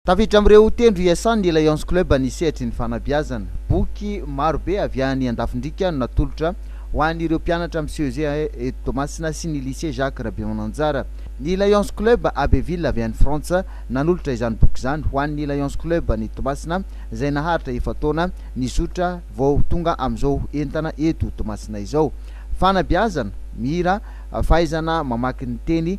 Tafiditra amin'ireo tendro iasan'ny Le Lions Club ny sehatry ny fanabeazana. Boky maro be avy any Andafindriaka no natolotra ho an'ireo mpianatra amin'ny CEG eto Toamasina sy ny Lycée Jacques Rabemananjara. Ny Lions Club Abbeville avy any Frantsa nanolotra izany boky izany ho an'ny Lions Club any Toamasina izay naharitra efa-taona nizotra vao tonga amin'izao entana eto Toamasina izao. Fanabeazana, mihira, fahaizana mamaky ny teny,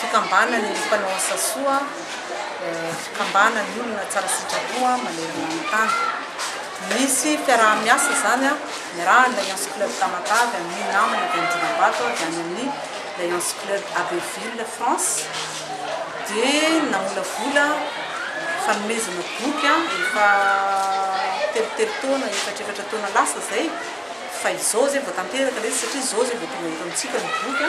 Fikambanany ny mpanao asa soa, fikambanany olona tsara sitrapo manerana ny tany. Misy fiaraha-miasa izany niarahan'ny Lions Club Tamatave amin'ny namana avy any Dinambato ary any amin'ny Lions Club Abbeville France dia namolavola fanomezana boky efa telotelo taona, efatrefatra taona lasa izay fa izao izay vao tanteraka ilay izy satria izao izay vao tonga eto amintsika ny boky.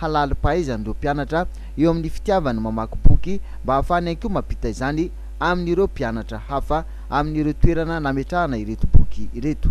halalim-pahaizan'ireo mpianatra eo amin'ny fitiavany mamaky boky mba hahafahany ihany koa mampita izany amin'ireo mpianatra hafa amin'ireo toerana nametrahana ireto boky ireto.